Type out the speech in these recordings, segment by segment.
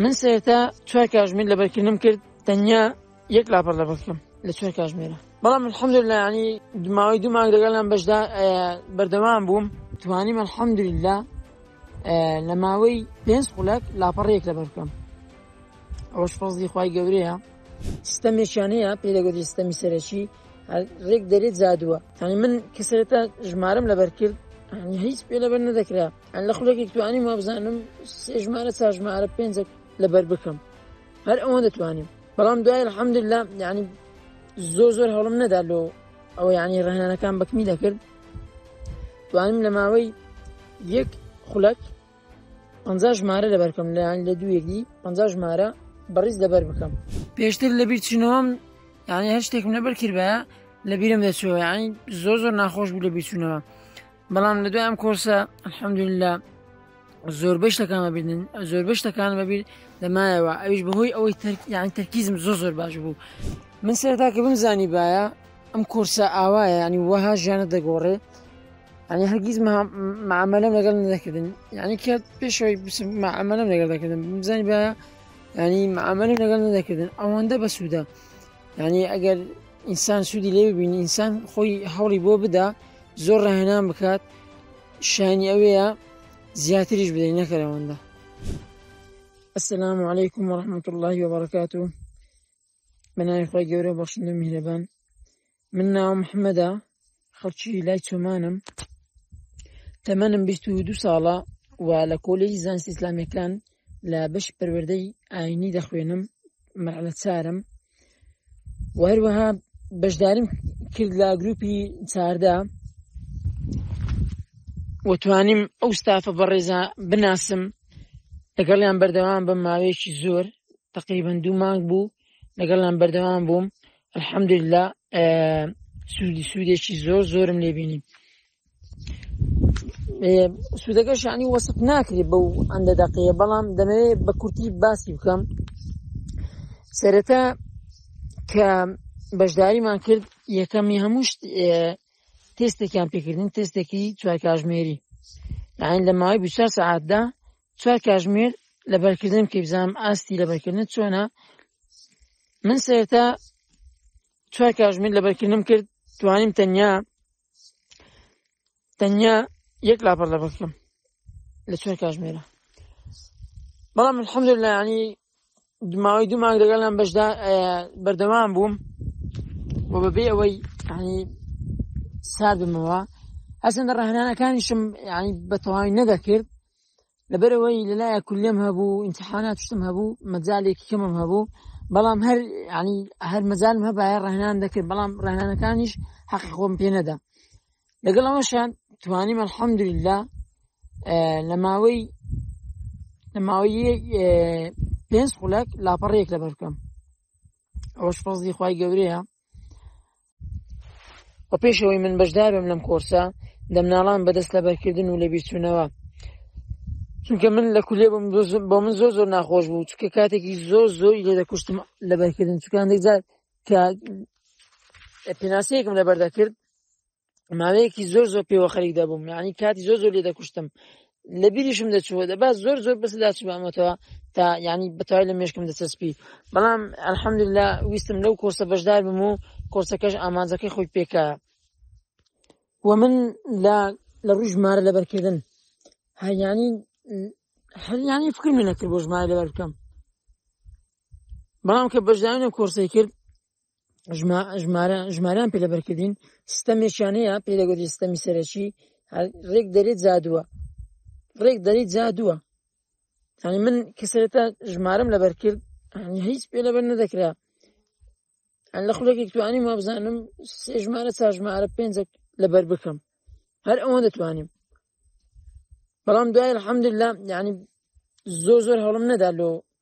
من سەرەتا چوار کاژمیر لەبەرکردنم کرد تەنیا یەک لاپەر لەبەر بکەم لە چوار کاژمێرە بەڵام الحەمدلله ینی دماوەی دوو مانگ لەگەڵیان بەشدا بەردەوام بووم توانیم الحەمدلله لە ماوەی پێنج خولەک لاپەڕێک لەبەر بکەم ئەوەش فەزلی خی گەورەیە سیستەمێکیانەیە پێ دەگوتی سیستەمی سەرەکی ڕێک دەرێت زادووە تانی من کە سەرەتا ژمارم لەبەر کرد هیچ پێ لەبەر نەدەکرا لە خولەکێک توانیم وابزانم سێ ژمارە چا ژمارە پێنجێک لەبەر بکەم هەر ئەوە دەتوانیم بەڵام دوای الحمد لله یعنی زۆر زۆر هەڵم نەدا لۆ ئەو یعنی ڕهێنەکان بەکمی دەکرد توانیم لە ماوەی یەک خولەک پ ژمارە لەبەرکەم لەیان لە دوویەکی پ ژمارە بەڕیز لەبەر بکەم پێشتر لەبییر چینەوەم یعنی هەر شتێکم لەبەر کردە لە بیرم دەچەوە یعنی زۆر زۆر ناخۆش بوو لە بیرچوونەوە بەڵام لە دوای ئەم کۆرسە الحەمدللا زۆربەی شتەکان ببینن زۆربەی شتەکان بەبییر دەمایەوە ئەویش بەهۆی ئەوەی یان تەرکیزم زۆ زۆر باش بوو من سەرتاکە بمزانی باە ئەم کۆرسە ئاوایە ینی وەها ژیانە دەگۆڕێ ئەنی هەرگیز معمەلم لەگەڵ نەکردن یعنی کە پێشەوەی معمەلم لەگەڵ دەکردن بزانانی باە ینی معمەلم لەگەڵ نەدەکردن ئەوەندە بەسوودە ینی ئەگەر ئینسان سوودی لێ ببینی ئینسان خۆی هەوڵی بۆ بدا زۆر ڕاهێنان بکات شانی ئەوەیە زیاتریش بدەین نەکەرەوەندە السلام عليكم ورحمة الله وبركاته بناوی خۆی گەورە بەخشندە میهرەبان من ناو محمدا خەڵکی لای چۆمانم تەمەنم بیست و دوو ساڵە و لە کۆلێجی زانستی ئیسلامیەکان لە بەش پەروەردەی ئاینی دەخوێنم مەرحلە چارم و هەروەها بەشداریم کرد لە گروپی چاردا و توانیم ئەو ستافە بەڕێزا بناسم لەگەڵیان بەردەوام بە ماوەیەکی زۆر تقریبن دوو مانگ بوو لەگەڵیان بەردەوام بووم الحەمدللا سوودی سوودێکی زۆر زۆرم لێبینی سوودەکە شانی وەسف ناکرێت بەو ئەندە دەقەیە بەڵام دەمەوێت بە کورتی باسی بکەم سەرەتا کە بەشداریمان کرد یەکەمی هەموو تێستێکیان پێکردن تێستێکی چوار کاژمێری یان لە ماوەی بچ سعاتدا چوار کاژمێر لە بەرکردن کە بزانام ئاستی لە بەرکردن چۆنە من سێتا چوار کاژمێر لە بەرکردم کرد توانیم تەنیا تەنیا یەک لاپەر لە بەکرم لە چوار کاژمێرە بەڵام الحمد لە ینی دماوەی دوو مانگ لەگەڵ لەم بەشدا بەردەوام بووم بۆ بەبێ ئەوەی ینی ساردمەوە هەسەندە ڕەهنانەکانیشم ینی بەتەواوی نەدەکرد لەبەرەوەی لەلایە کولێم هەبوو ئینتحانات شتم هەبوو مەجالێکی کەمم هەبوو بەڵام هەر ینی هەر مەجالم هەبایە ڕهنان دەکرد بەڵام ڕهنانەکانیش حەقی خۆم پێ نەدا لەگەڵ ئەوەشان توانی مەحەمدلا لە ماوەی لە ماوەی پێنج خولەک لاپەڕێک لەبەر بکەم ئەوەش فەزی خی گەورەیە و پێشەوەی من بەشدارم لەم کۆرسە دەمناڵان بەدەست لەبەرکردن و لەبیرچوونەوە چونکە من لە کولێ بم بۆ من زۆر زۆر ناخۆش بوو چکە کاتێکی زۆر زۆری لێ دەکوشتم لەبەرکردن چکان دەجار کە پێناسەیەکم لەبەر دەکرد ماوەیەکی زۆر زۆر پێوە خەریک دەبووم یعنی کاتی زۆر زۆر لێ دەکوشتم لە بیریشم دەچوە دەبا زۆر زۆر بەس داچمەتەوە تا ینی بەتای لە مێشکم دەچەسپی بەڵام ئەلحەمد لە ویستم لەو کۆرسە بەشدار بم و کۆرسەکەش ئامانجەکەی خۆی پێکە و من لە لە ڕووی ژمارە لەبەرکردن هەیانی هەریانی فکر من نەکرد بۆ ژمارە لەبەر بکەم بەڵام کە بەشدانە کۆرسی کرد ژماران پێ لەبەرکردین ستەمێکیان هەیە پێ لەگەری ستەمی سەرەکی ڕێک دەرێت زادووە ڕێک دەریت زادووە ینی من کەسێتە ژمارم لەبەر کرد هیچ پێ لەبەر نەدەکرا لە خولێکی توانیم ما بزانم سێ ژمارە چا ژمارە پێنج لەبەر بکەم هەر ئەوەن دەتوانیم بەڵام دوای الحمدللا ینی زۆر زۆر هەڵم نەدا لۆ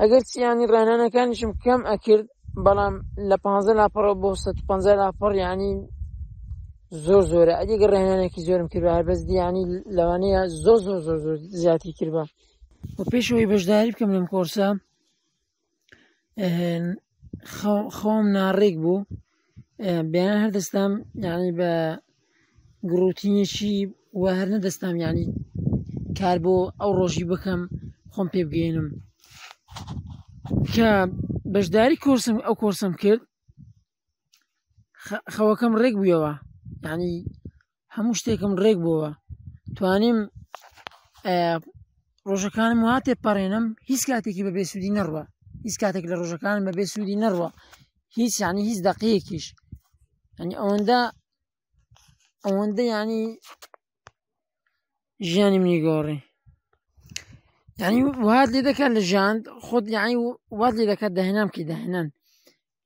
ئەگەر چیانی ڕێنانەکانیشم کەم ئەکرد بەڵام لە پ لاپەڕەوە بۆ 150 لاپەڕ ینی زۆر زۆرە ئەدیگە ڕێنانێکی زۆرم کرد هەر بەس دیانی لەوانەیە زۆ زۆ زۆ زۆر زیاتی کردبە و پێشەوەی بەشداری بکەم لەم کۆرسە خەوم ناڕێک بوو بەیان هەردەستام یعنی بە گڕوتینێکی وە هەر نەدەستام یعنی کار بۆ ئەو ڕۆژی بکەم خۆم پێ بگەێنم کە بەشداری کۆرسم ئەو کۆرسم کرد خەوەکەم ڕێک بوویەوە ینی هەموو شتێکم ڕێک بووە توانیم ڕۆژەکانم وا تێپەڕێنم هیچ کاتێکی بە بێسوودی نەڕوە هیچ کاتێک لە ڕۆژەکانم بە بێسوودی نەڕوە هیچ ینی هیچ دەقەیەکیش ئەنی ئەوەندە ئەوەندە ینی ژیانی منی گۆڕی ینی وات لێ دەکات لە ژاند خۆت یعنی وات لێ دەکات داهێنام کی داهێنان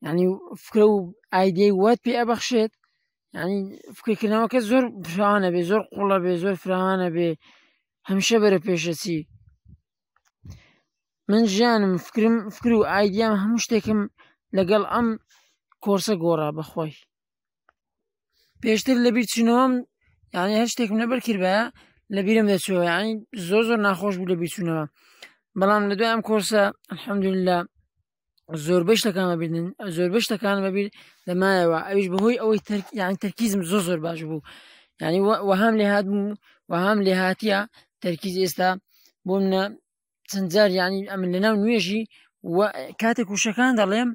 ینی فکرە و ئایدەی وات پێ ئەبەخشێت ینی فکرکردنەوەکە زۆر پرانە بێ زۆر قوڵە بێ زۆر فرانە بێ هەمیشە بەرە پێشەچی من ژیانم فکرم فکر و ئایدیام هەموو شتێکم لەگەڵ ئەم کۆرسە گۆڕا بەخۆی پێشتر لە بیرچینەوەم یعنی هەر شتێکم لەبەر کردە لە بیرم دەچەوە یعنی زۆر زۆر ناخۆش بوو لە بیرچوونەوە بەڵام لە دوای ئەم کۆرسە الحمدللا زۆربەی شتەکان ببینن زۆربەی شتەکان بەبییر دەمایەوە ئەوش بەهۆی ئەوەی یان تەرکیزم زۆر زۆر باش بوو ینی وەهام لێ هاات بوو وەهام لێ هااتە تەرکیز ئێستا بۆ منە چەند جار ینی ئەمن لە ناو نوێژی کاتێک وشەکان دەڵێم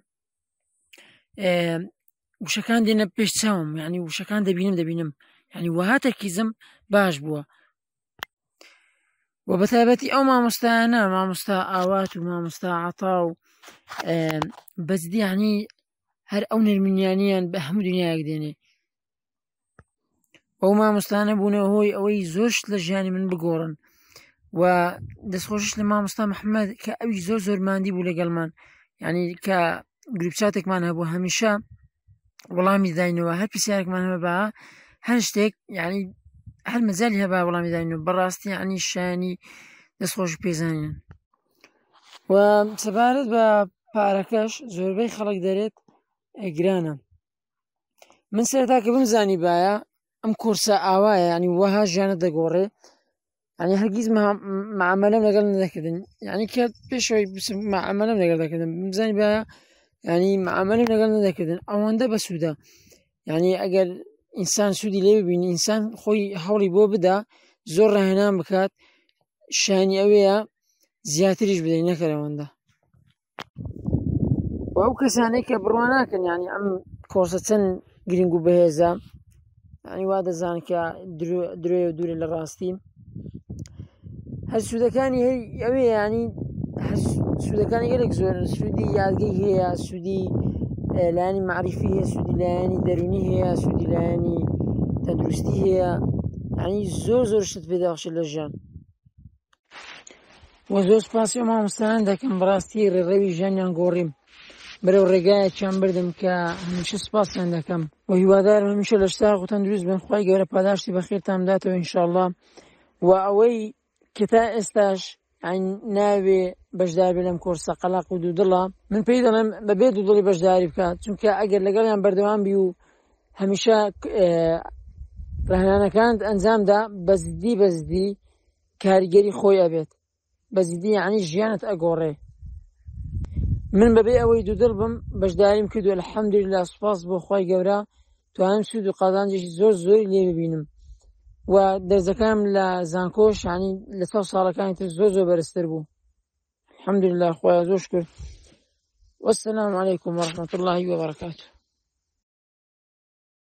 وشەکان دێنە پێش چاوم ینی وشەکان دەبینم دەبینم ینی وەها تەرکیزم باش بووە و بە تایبەتی ئەو مامۆستایانە مامۆستا ئاوات و مامۆستا عتا و بەجدیانی هەر ئەو نرمنیانیان بە هەموو دنیایەک دێنێ ئەو مامۆستانە بوونە هۆی ئەوەی زۆرشت لە ژیانی من بگۆڕن و دەستخۆشش لە مامۆستا مححمد کە ئەوی زۆر زۆر مادی بوو لەگەڵمان ینی کە گروپچاتێکمان هەبوو هەمیشە وەڵامی داینەوە هەر پرسیارێکمان هەبە بە هەر شتێک یعنی هەر مەجای هەبا وەڵامی داینەوە بەڕاستی عنی شانی دەستخۆش پێزانین و سەبارەت بە پارەکەش زۆربەی خەڵک دەرێت ئەگرانە من سەرتاکە بم زانی باە ئەم کورسە ئاوایە ینی وەها ژیانە دەگۆڕێ ئەنی هەرگیز مامەلم لەگەڵ نەکردن یعنی کە پێشەوەی مامەلم لەگەڵ دەکردن بزانانی بە ینی مامەلم لەگەڵ نەدەکردن ئەوەندە بە سوودە یعنی ئەگەر ئینسان سوودی لێ ببین ئینسان خۆی هەوڵی بۆ بدا زۆر ڕاهێنان بکات شانی ئەوەیە زیاتریش بدەین نەکەرەوەندە و ئەو کەسانەی کە بڕوا ناکەن ینی ئەم کۆسە چەند گرنگ و بەهێزە ئەنی وا دەزان کە درێ و دوورە لە ڕاستی هەر سوودەکانی هەی ئەوێ ینی سوودەکانی گەلێک زۆر سوودی یادگەی هەیە سوودی لایانی معریفی هەیە سوودی لایەنی دەرونی هەیە سوودی لایەنی تەندروستی هەیە ئەنی زۆر زۆر شت پێداخشی لە ژیان و زۆر سپاسی ئەو مامۆستایان دەکەم بەڕاستی ڕێڕەوی ژیانیان گۆڕیم بەرەو ڕێگایەکیان بردم کە هەمیشە سپاسیان دەکەم و هیوادارم هەمیشە لە شتا غوتەن دروست بن خی گەورە پاداشتی بەخێرتان بداتەوە ئینشاءله و ئەوەی کە تا ئێستاش ناوێ بەشداربێ لەم کۆرسە قەلاق و دوودڵە من پێی دەڵێم بەبێ دوودڵی بەشداری بکات چونکە ئەگەر لەگەڵیان بەردەوام بی و هەمیشە ڕهنانەکانت ئەنجامدا بەزدی بەزدی کاریگەری خۆی ئەبێت بەجدی یعنی ژیانت ئەگۆڕێ من بەبێ ئەوەی دوودڵ بم بەشداریم کردو الحەمدللا سوپاس بۆ خی گەورە توانم سوود و قازانجێکی زۆر زۆری لێ ببینم و دەرزەکانم لە زانکۆ شانی لە ساو ساڵەکانی تر زۆر زۆر بەرزتر بوو الحەمدللا خۆیان زۆر شکر والسلام عليكم ورحمة الله وبركاته